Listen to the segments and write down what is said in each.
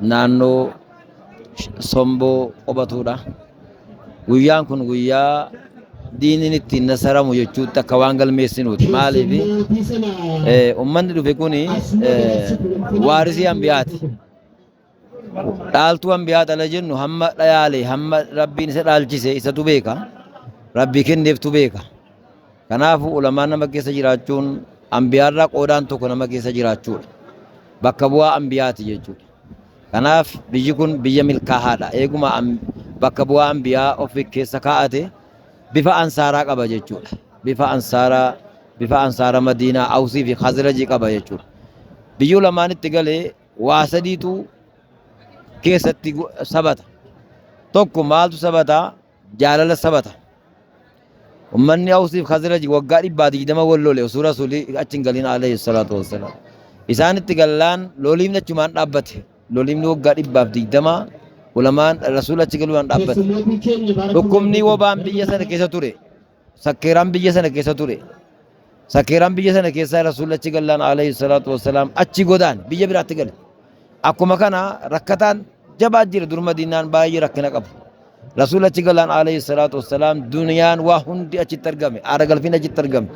naannoo somboo qubatuudha. Guyyaan kun guyyaa diiniin ittiin nasaramu jechuutti akka waan galmeessinuuti. Maaliif uummanni dhufe kun waarisii hambiyaati. Dhaaltuu hambiyaa dhala jennu hamma dhayaale hamma rabbiin isa dhaalchise isatu beeka. Rabbii kenneeftu beeka. Kanaafuu ulamaan nama keessa jiraachuun ambiyaarraa qoodaan tokko nama keessa jiraachuudha. Bakka bu'aa ambiyaati jechuudha. Kanaaf biyyi kun biyya milkaahaadha. Eeguma bakka bu'aa ambiyaa of keessa kaa'ate bifa ansaaraa qaba jechuudha. Bifa ansaaraa bifa ansaara madiinaa awsii fi khazrajii qaba jechuudha. Biyyi ulamaan itti galee waa sadiitu keessatti sabata. Tokko maaltu sabataa? Jaalala sabata. Ummanni Awsiif Khazraji waggaa dhibbaa digdama wal lole osoo Rasuulli achi hin galin alayhi salaatu wassalaam. Isaan itti gallaan loliimni achumaan dhaabbate. Loliimni waggaa dhibbaaf digdama ulamaan Rasuulli achi galuudhaan dhaabbate. Dhukkubni wobaan biyya sana keessa ture. sakkeeraan biyya sana keessa ture sakkeeraan biyya sana keessaa rasuulli achi gallaan alayhi salaatu wassalaam achi godaan biyya biraatti gale akkuma kana rakkataan jabaa jira dur madiinaan baay'ee rakkina qabu rasuulli achi gallaan alayhi salaatu wassalaam duniyaan waa hundi achitti argame aara galfiin achitti argame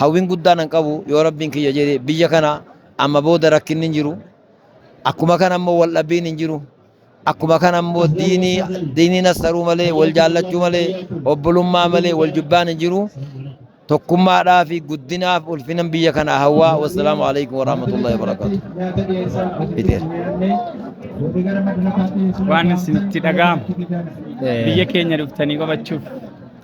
hawwiin guddaan hin qabu yoo rabbiin kiyya jedhe biyya kana amma booda rakkinni hin jiru akkuma kana immoo wal dhabbiin hin jiru Akkuma kana immoo diinii diinii nassaruu malee wal jaallachuu malee obbolummaa malee wal jibbaan hin jiru. Tokkummaadhaa fi guddinaaf ulfinan biyya kana hawwaa. Wassalaamu alaikum warahmatullahi wabarakatuh. Fiteera. Waan isinitti dhaga'amu biyya keenya dhuftanii qabachuuf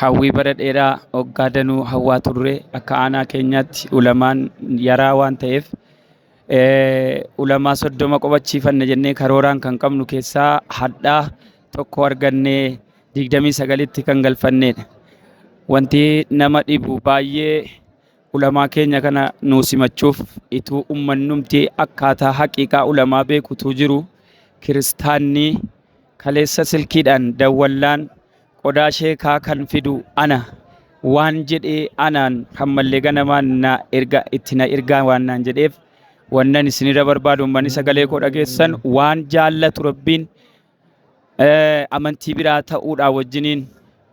Hawwii bara dheeraa waggaa danuu hawwaa turre akka aanaa keenyaatti ulamaan yaraa waan ta'eef ulamaa soddoma qobachiifanna jennee karooraan kan qabnu keessaa hadhaa tokko argannee digdamii sagalitti kan galfanneedha. Wanti nama dhibu baay'ee ulamaa keenya kana nuu simachuuf ituu ummannumti akkaataa haqiiqaa ulamaa beekutuu jiru kiristaannii kaleessa silkiidhaan dawwallaan Qodaa sheekaa kan fidu ana. Waan jedhee anaan kan mallee ganamaan na erga itti na ergaa waan naan jedheef wannan isinirra barbaadu ummanni sagalee koo dhageessan waan jaallatu rabbiin eh, amantii biraa ta'uudhaa wajjiniin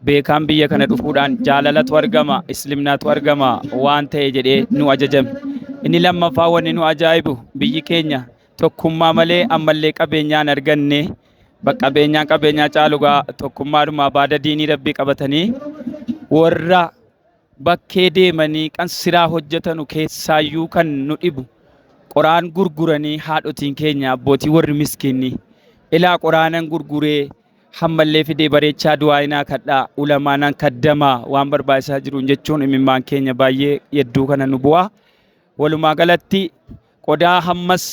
beekaan biyya kana dhufuudhaan jaalalatu argama islimnaatu argama waan ta'e jedhee nu ajajame inni lammaffaa wanni nu ajaa'ibu biyyi keenya tokkummaa malee ammallee qabeenyaan arganne Baqqabeenyaan qabeenyaa caalugaa tokkummaadhuma baada diinii rabbii qabatanii warra bakkee deemanii kan siraa hojjetanu keessaayyuu kan nu dhibu qoraan gurguranii haadhotiin keenya abbootii warri miskiinni ilaa qoraanan gurguree hammallee fidee bareechaa du'aayinaa kadhaa ulamaanaan kaddamaa waan barbaachisaa jiruun jechuun imimmaan keenya baay'ee yedduu kana nu bu'aa walumaa galatti Qodaa hammas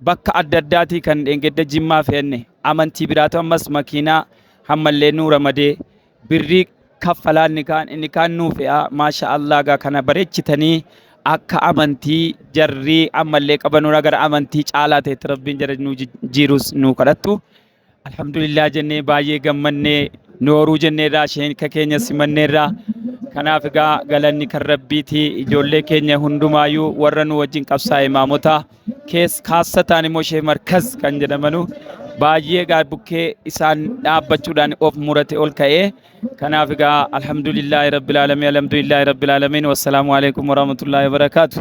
bakka adda addaatii kan dheengedda jimmaa fe'anne amantii biraatu ammas makiinaa hammallee nuu ramadee birrii kaffalaa inni kaan inni kaan nuu fe'aa maasha Allah gaa kana bareechitanii akka amantii jarrii ammallee qabanuura gara amantii caalaa ta'etti rabbiin jara nuu jijjiirus nuu kadhattu Alhamdulillah jennee baay'ee gammannee nooruu jenneerraa sheenka keenya simanneerraa kanaaf egaa galanni kan rabbiiti ijoollee keenya hundumaayyuu warra nu wajjin qabsaa'e maamota kees kaassa ta'an immoo shee markaz kan jedhamanu baay'ee egaa bukkee isaan dhaabbachuudhaan of murate ol ka'ee kanaaf egaa alhamdulillah rabbil aalamiin alhamdulillah rabbil aalamiin wassalaamu alaikum warahmatullahi wabarakaatu.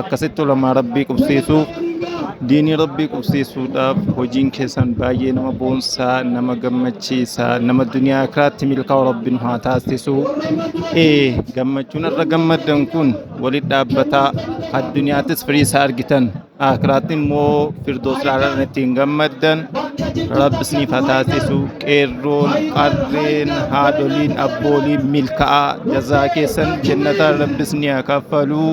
akkasitti ulamaa rabbii qubsiisuu diinii rabbii qubsiisuudhaaf hojiin keessan baay'ee nama boonsaa nama gammachiisa nama duniyaa kiraatti milkaa'u rabbiin haa taasisu ee gammachuun irra gammaddan kun walitti dhaabbataa addunyaattis firii isaa argitan akiraatti immoo firdoos laalaan ittiin gammaddan rabbi isiniif haa taasisu qeerroon qarreen haadholiin abbooliin milkaa'aa jazaa keessan jennataan rabbi isinii haa kaffaluu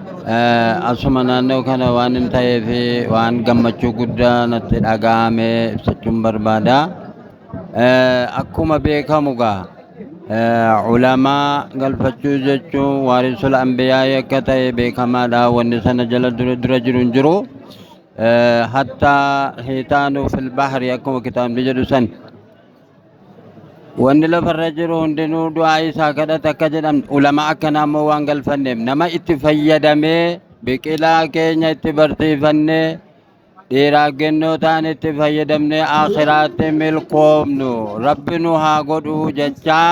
Asuma naannoo kana waan hin ta'eef waan gammachuu guddaa natti dhaga'ame ibsachuun barbaada. Akkuma beekamu gaa ulamaa galfachuu jechuun waarisul ambiyaa akka ta'e beekamaadha wanni sana jala dura dura jiru hin jiru. Hatta hiitaanu fil bahri akkuma kitaabni jedhu san Wanni lafarra jiru hundinuu du'aa isaa kadhate akka jedhan ulama akkanaa immoo waan galfanneef nama itti fayyadamee biqilaa keenya itti barsiifannee dhiiraa gennoo ta'an itti fayyadamnee akhiraatti milkoomnu rabbi nu haa godhuu jechaa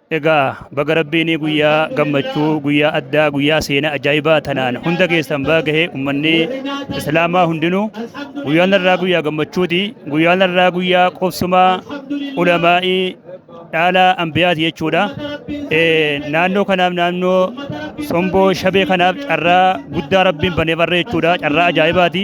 Egaa baga rabbiin guyyaa gammachuu guyyaa addaa guyyaa seenaa ajaa'ibaa tanaan hunda keessan baagahee ummanni islaamaa hundinuu guyyaan irraa guyyaa gammachuuti guyyaan irraa guyyaa qubsumaa ulamaa'ii dhaala ambiyaati jechuudha. Naannoo kanaaf naannoo somboo shabee kanaaf carraa guddaa rabbiin banee barree jechuudha carraa ajaa'ibaati.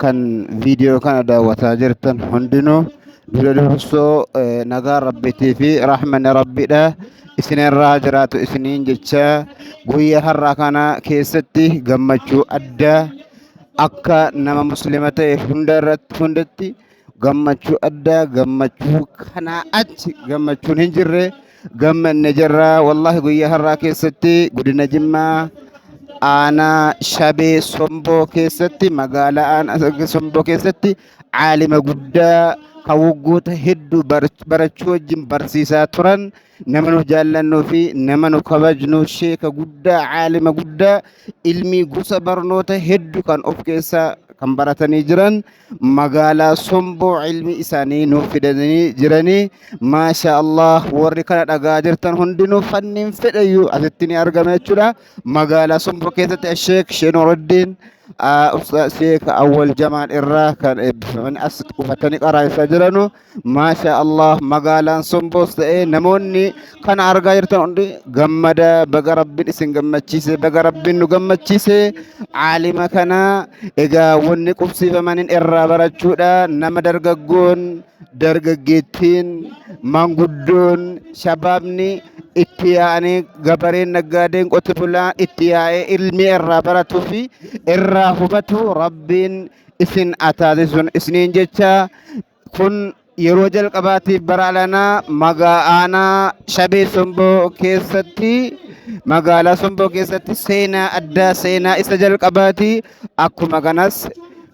kan viidiyoo kana daawwataa jirtan hundinuu dura dursoo eh, nagaa rabbiitii fi rahmanni rabbiidha isinirraa jiraatu isiniin jecha guyyaa har'aa kana keessatti gammachuu addaa akka nama muslima ta'e hunda irratti hundatti gammachuu addaa gammachuu kanaa achi gammachuun hin jirre gammanne jirra wallahi guyyaa har'aa keessatti godina jimmaa aanaa shabee somboo keessatti magaalaa aanaa somboo keessatti caalima guddaa kan waggoota hedduu bar- barachuu wajjin barsiisaa turan nama nu jaallannuu fi nama nu kabajnu sheeka guddaa caalima guddaa ilmii gosa barnoota heddu kan of keessaa kan baratanii jiran magaalaa somboo ilmi isaanii nuuf fidanii jiranii maasha allah warri kana dhagaa jirtan hundinuu fanniin fedhayyuu asitti ni argama jechuudha magaalaa somboo keessatti sheek sheenuraddiin sheek awwal jamaan irraa kan eebbifaman as qubatanii qaraa'isaa jiranu Maasha Allah magaalaan somboos ta'ee namoonni kana argaa jirtan hundi gammada baga rabbiin isin gammachiise baga rabbiin nu gammachiise aalima kana egaa wanni qubsiifamaniin irraa barachuudha nama dargaggoon dargaggeettiin manguddoon shabaabni itti yaa'anii gabareen naggaadeen qote bulaa itti yaa'ee ilmi irraa baratuu fi irraa hubatu rabbiin isin haa taasisuun isiniin jecha kun yeroo jalqabaatiif bara alanaa magaa aanaa shabee somboo keessatti magaalaa somboo keessatti seenaa addaa seenaa isa jalqabaati akkuma kanas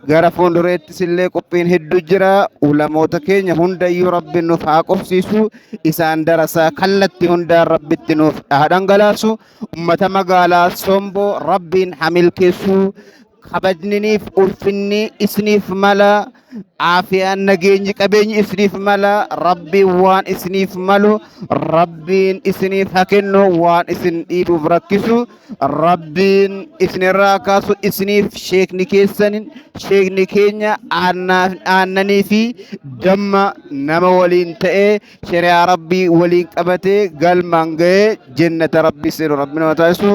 gara fuuldureettis illee qophiin hedduu jira ulamoota keenya hundayyuu rabbi nuuf haa qofsiisu isaan darasaa kallatti hundaan rabbitti nuuf haa dhangalaasu ummata magaalaa somboo rabbiin haa milkeessu kabajniniif ulfinni isiniif mala aafiyaan nageenyi qabeenyi isiniif mala rabbiin waan isiniif malu rabbiin isiniif haa kennu waan isin dhiibuuf rakkisu rabbiin isinirraa kaasu isiniif sheekni keessan sheekni keenya aannaa- aannanii fi damma nama waliin ta'ee shari'aa rabbii waliin qabatee galmaan ga'ee jennata rabbii seenu rabbiin haa taasisu